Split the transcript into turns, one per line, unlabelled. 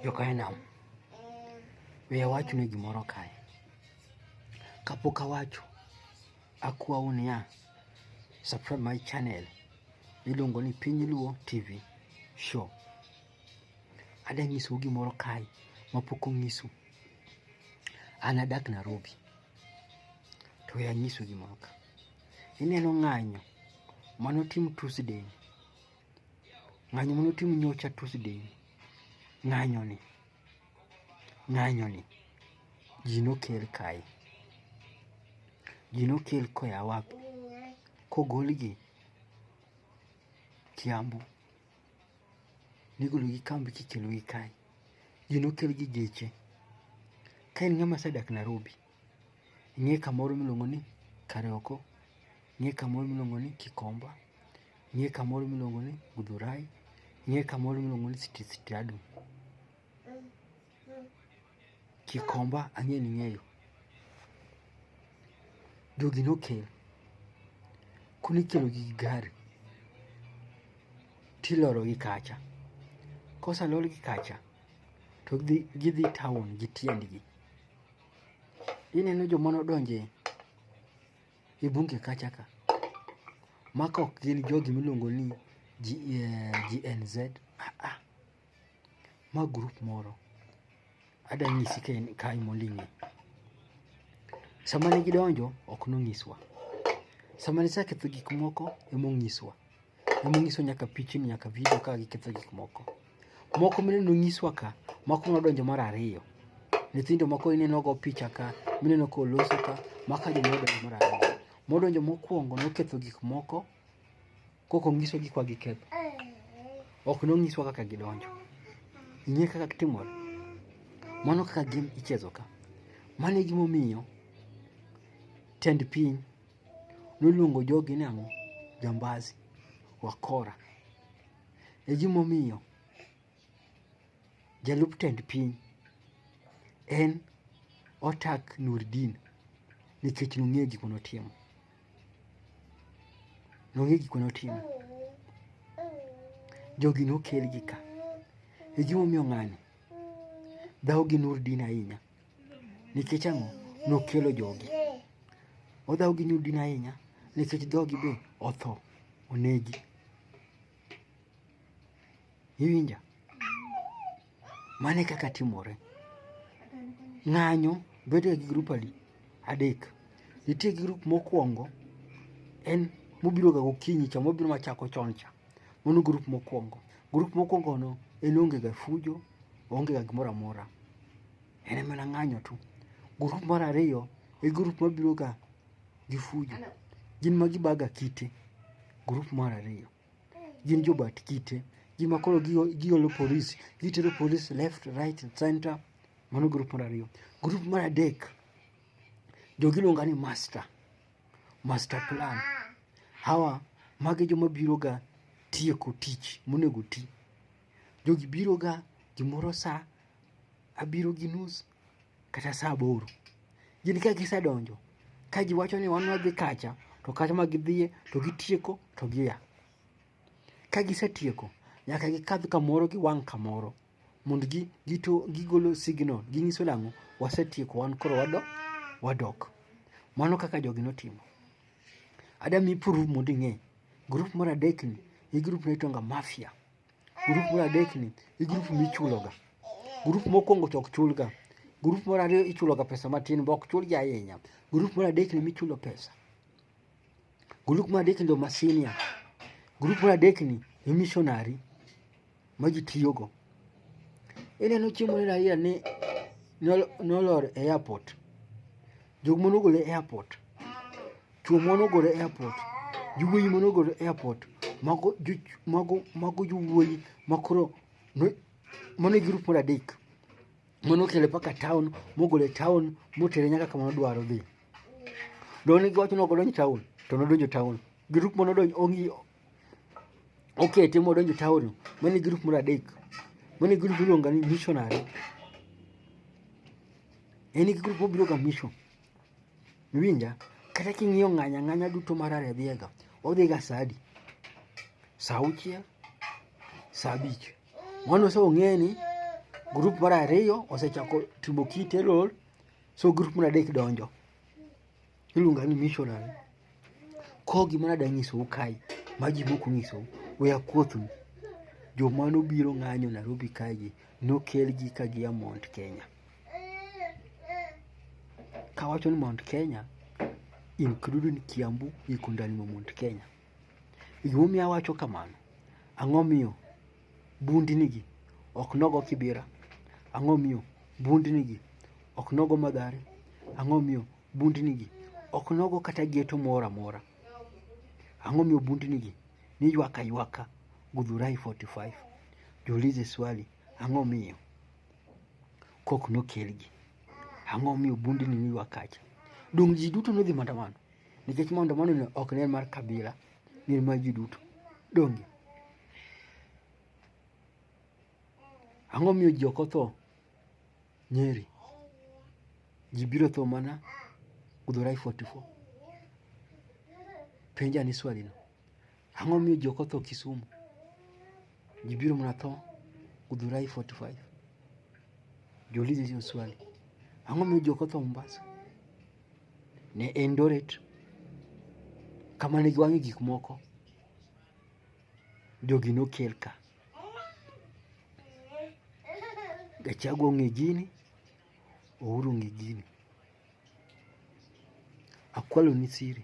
Jokainam, we awachu ni gimoro kae. Kapok awacho, akwau niya, subscribe my channel miluongo ni Piny Luo TV Show. Ada nyisou gimoro kae mapok onyisu. An adak Nairobi, to we anyisu gimoro ka. Ineno ng'anyo manotim Tuesday ng'anyo mane otim nyocha Tuesday ng'anyoni ng'anyoni ji nokel kae ji nokel koya wapi kogolgi Kiambu nigologi kambi kikelogi kae ji nokelgi geche ka en ng'ama sedak Nairobi Ng'e kamoro miluongo ni Karioko, ng'e kamoro miluongo ni Kikomba, ng'e kamoro miluongo ni Gudhurai, ng'e kamoro miluongo ni Sitiadu. Kikomba ang'e ni ng'eyo. Jogi nokel. Koro ikelo gi gari tiloro gi kacha. Kosalor gi kacha to gidhi town gi tiendgi. Ineno joma nodonje e bunge kacha ka ma ka ok gin jogi miluongo ni GNZ eh, ah, ah. ma grup moro ada nyisi ka en kae moling'e sama ne gidonjo ok nonyiswa sama ne saketho gik moko emonyiswa emonyiswa nyaka pichni nyaka vidio ka giketho gik moko Moko mineno nyiswa ka, moko nodonjo mar ariyo. Nyithindo moko ineno go picha ka, mineno ka olosi ka, maka joma odonjo mar ariyo. Modonjo mokwongo noketho gik moko kok onyiso gik ma giketho. Ok nonyiswa kaka gidonjo. Ing'e kaka gitimore? Mano kaka game ichezo ka. Mano e gimomiyo tend piny noluongo jogi ni ang'o? Jambazi, wakora. E gimomiyo jalup tend piny en otak Nurdin nikech nong'eyo gik mane otimo. Nong'eyo gik mane otimo. Jogi nokelgi ka. E gimomiyo ng'ani dhawo gi Nurdin ahinya. Nikech ang'o? Nokelo jogi. Odhaw gi nyudini ahinya nikech dhogi be otho, onegi. Iwinja? Mane kaka timore. Ng'anyo bedo gi grup adi? Adek. Nitie gi grup mokwongo en mobiroga gokinyi cha, mobiro machako chon cha. Mano grup mokwongo. Grup mokwongono en onge ga fujo, onge ga gimoro amora. En mana ng'anyo tu. Grup mar ariyo e grup mabiro ga gi fujo. Gin ma gibaga kite. Grup mar ariyo. Gin jobat kite. Gin ma koro giolo polis. Gitero polis left, right, center. Mano grup mar ariyo. Grup mar adek jogi iluonga ni master. master plan. Hawa magi joma biro ga tieko tich monego ti. Jogi biro ga gimoro sa abiro gi nus kata sa aboro. Gin ka gisedonjo ka giwacho ni wan wadhi kacha to kacha ma gidhiye to gitieko to gia. Ka gisetieko nyaka gikadh kamoro giwang' kamoro Mond gi gito gigolo signal ginyiso nang'o wasetieko wan koro wado wadok. Mano kaka jogi notimo. Ada mi proof mondo ing'e. Grup mar adek ni e grup ni tonga mafia. Grup mar adek ni e grup michuloga. Grup mokwongo to ok chulga. Grup mar ariyo ichuloga pesa matin bok chulgi ahinya. Grup mar adek ni michulo pesa. Grup mar adek ndo ma senior. Grup mar adek ni e missionary ma ji tiyogo. Ineno chiemo ni Raila ni nolor e airport. Jok mane ogol e airport. Chuo mane ogol e airport. Jowuoyi mane ogol e airport. Mago mago mago jowuoyi makoro mano e grup mar adek. Mano okele paka town mogole town motere nyaka kama nodwaro dhi. doni gocho noko donjo town to nodonjo town group mono donjo ongi okay timo donjo town mani group moro adek mani group iluonga ni missionary en gi group mobiro ga mission winja kata king'iyo ng'anya ng'anya duto mar aredhiega odhi ga sadi saa auchiel saa abich mano ose ong'e ni group mar ariyo osechako timo kite lol So grup mar adek donjo iluonga ni missionary. Ko gima nadwa nyisou kae ma ji moko nyisou we akuothnu joma nobiro ng'anyo Nairobi kaegi nokelgi ka gia Mount Kenya. Kawacho ni Mount Kenya including Kiambu iko ndani ma Mount Kenya. Gimomiyo awacho kamano, ang'o miyo Bundnigi ok nogo Kibira. Ang'o miyo? Bundnigi ok nogo Madhare. Ang'o miyo? Bundnigi ok nogo kata geto moro amora. Ang'o miyo bundnigi ni ywaka ywaka Gudhurai 45? Jiulize swali, ang'o miyo kok nokelgi? Ang'o miyo bundni ni ywakacha? Donge ji duto nodhi maandamano? Nikech maandamano ok ne en mar kabila, gin mar ji duto. Donge? Ang'o miyo ji ok otho Nyeri? Ji biro tho mana Githurai 44. Penja ni swali no. Ang'o miyo ji ok otho Kisumu? Ji biro mana tho Githurai 45. Jiulize hiyo swali. Ang'o miyo ji ok otho Mombasa? ne en Doret kama ne giwang'e gik moko jogi nokel ka Gachagua ong'e gini Uhuru ong'e gini akwalo ni siri